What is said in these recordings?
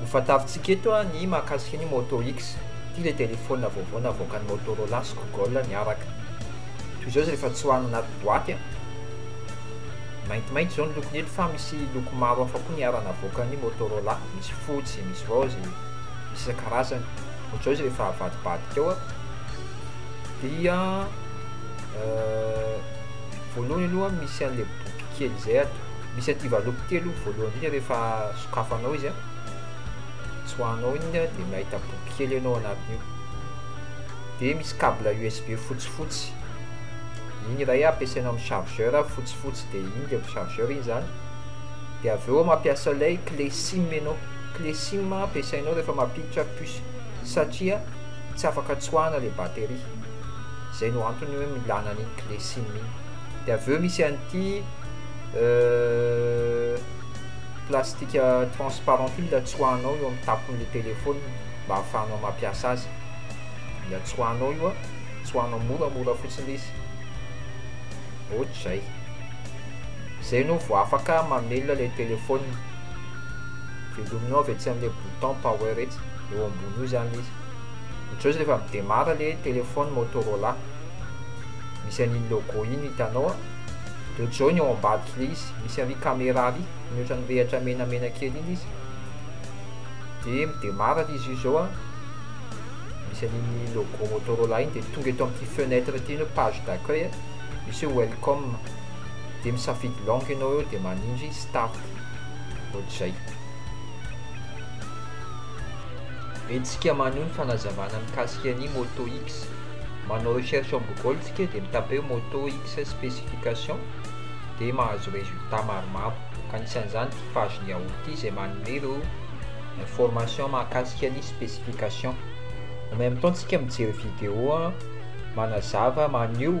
Ho fantarintsika eto ny mahakasika ny Moto X. Ity ilay telefaonina vaovao navoakan'i Motorola sy Google niaraka. Toy izao izy rehefa tsoahina anaty boaty. Maintimainty izao ny lokony eto fa misy loko maro hafa koa niara-navoakan'i Motorola. misy fotsy zay misy vao zay misy isan-karazany ohatr'izao izy rehefa avadibadika ao a dia voalohany aloha misy an'ilay boky kely zay ato misy aty valopy telo voalohany indrindra rehefa sokafanao izy a tsoahanao iny a dia mahita boky kely ianao anatin'io dia misy cable usb fotsifotsy iny iray ampiasaina amin'ny chargeur fotsifotsy dia iny dia chargeur iny zany dia avy eo mampiasa ilay clé sim ianao, clé sim ampiasainao rehefa mampiditra puce satria tsy afaka tsoahina ilay batterie, izay no antony hoe milana an'iny clé sim iny, dia avy eo misy an'ity plastika transparent ity mila tsoahinao eo amin'ny tampon'ilay téléphone mba ahafahanao mampiasa azy, mila tsoahinao io an, tsoahinao moramora fotsiny ilay izy, ohatr'izay. Zay no vo afaka mamelona le telephone. Velomina ao etsy amle bouton power etsy, eo ambony eo zany le izy. Otr'izao izy refa midemara le telephone motorola. Misy an'iny logo iny hitanao a. De otr'izao ny ao ambadik'le izy, misy ary camera ary, ny otran'ny rehatra menamena kely iny izy. De midemara le izy io zao a. Misy an'iny logo motorola iny de tonga eto amty fenêtre ty ny page d'accueil, misy hoe welcome. dia misafidy langue ianao eo dia manindry start ohatr'izay entsika maneho ny fanazavana mikasika ny moto x manao recherche en google tsika dia mitape hoe moto x specification dia mahazo résultat maromaro ka anisan'izany ity page ny ao ity izay manome ireo information mahakasika ny specification en même temps tsika mijery video manazava maneho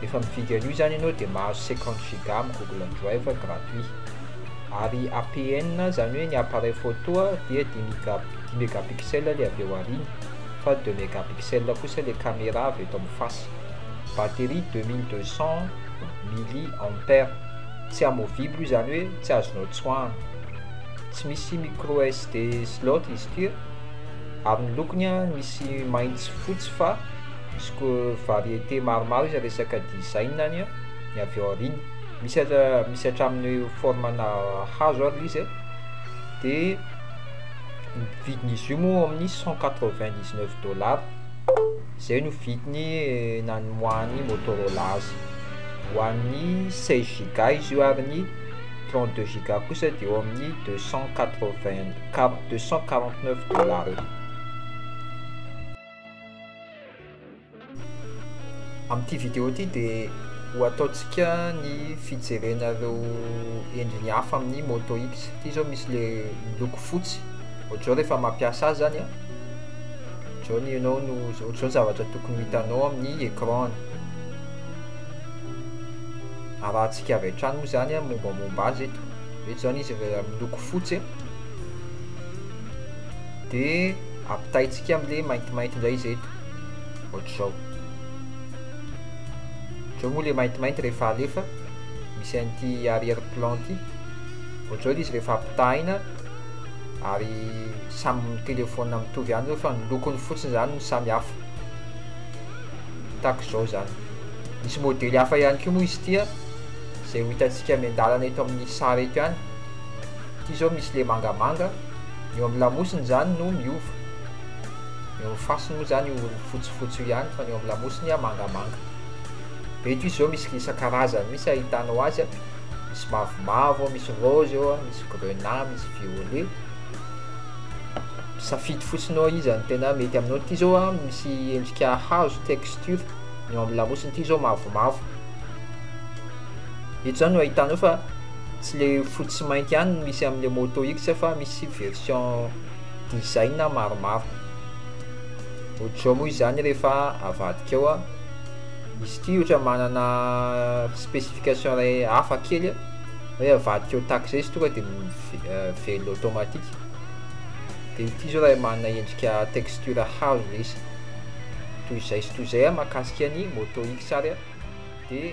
Rehefa mividy an'io izany ianao dia mahazo cinquante giga amin'ny Google Drive gratuit. Ary APN izany hoe ny appareil photo dia dimy giga dimy megapixel ilay avy eo aoriana fa deux megapixel kosa ilay caméra avy eto amin'ny face. Batterie deux mille deux cent milli ampère. Tsy amovible izany hoe tsy azonao tsoahina. Tsy misy micro SD slot izy ity. Ary ny lokony misy mainty sy fotsy fa. misy ko variété maromaro izy resaka design any a, ny avy ao aoriana misy aza misy hatramin'ny forme-na hazo ary le izy de ny vidin'izy io moa eo amin'ny cent quatre vingt dix neuf dollars zay no vidiny namoahan'ny Motorola azy ho an'ny seize giga izy io ary ny trente deux giga kosa de eo amin'ny deux cent quatre vingt deux cent quarante neuf dollars eo. Amin'ity vidéo ity dia ho ataontsika ny fijerena ireo endriny hafa amin'ny Moto X. Ity izao misy le miloko fotsy, ohatr'izao rehefa mampiasa azy zany an, ohatr'izao ny ianao no, ohatr'izao ny zavatra tokony ho hitanao amin'ny écran-ny. Arahantsika avy hatrany moa izany an, mombamomba azy eto. Eto izany izy miloko fotsy. de ampitaintsika amle maintimainty indray izy eto ohatr'izao zao moa le maintimainty rehefa alefa misy an'ity arrière plan ity ohatr'izao izy rehefa ampitahaina ary samy telefaona mitovy ihany reo fa ny lokony fotsiny izany no samy hafa tahaka izao izany misy modely hafa ihany koa moa izy tia izay ho hitantsika miandalana eto amin'ny sary eto ihany ity izao misy le mangamanga Ny eo amin'ny lamosiny izany no miova. Ny eo amin'ny fasiny moa izany io fotsifotsy io ihany fa ny eo amin'ny lamosiny mangamanga. Eto izy izao misy isan-karazany mihitsy ahitanao azy, misy mavomavo, misy rose eo, misy grenat, misy violet. Safidy fotsiny ao izy izany tena mety aminao. Ity izao misy endrika hazo texture, ny eo amin'ny lamosiny ity izao mavomavo. Eto izany no ahitanao fa. Tsy le fotsy sy mainty ihany no misy amin'ilay Moto X fa misy version design maromaro. Ohatr'izao moa izany rehefa avadika ao, izy ity ohatra manana specification iray hafa kely hoe avadika ao tax izay izy tonga dia velona automatique. Dia ity izao raha manana endrika texture hazo ilay izy. Toy izay sy toy izay mahakasika ny Moto X ary dia.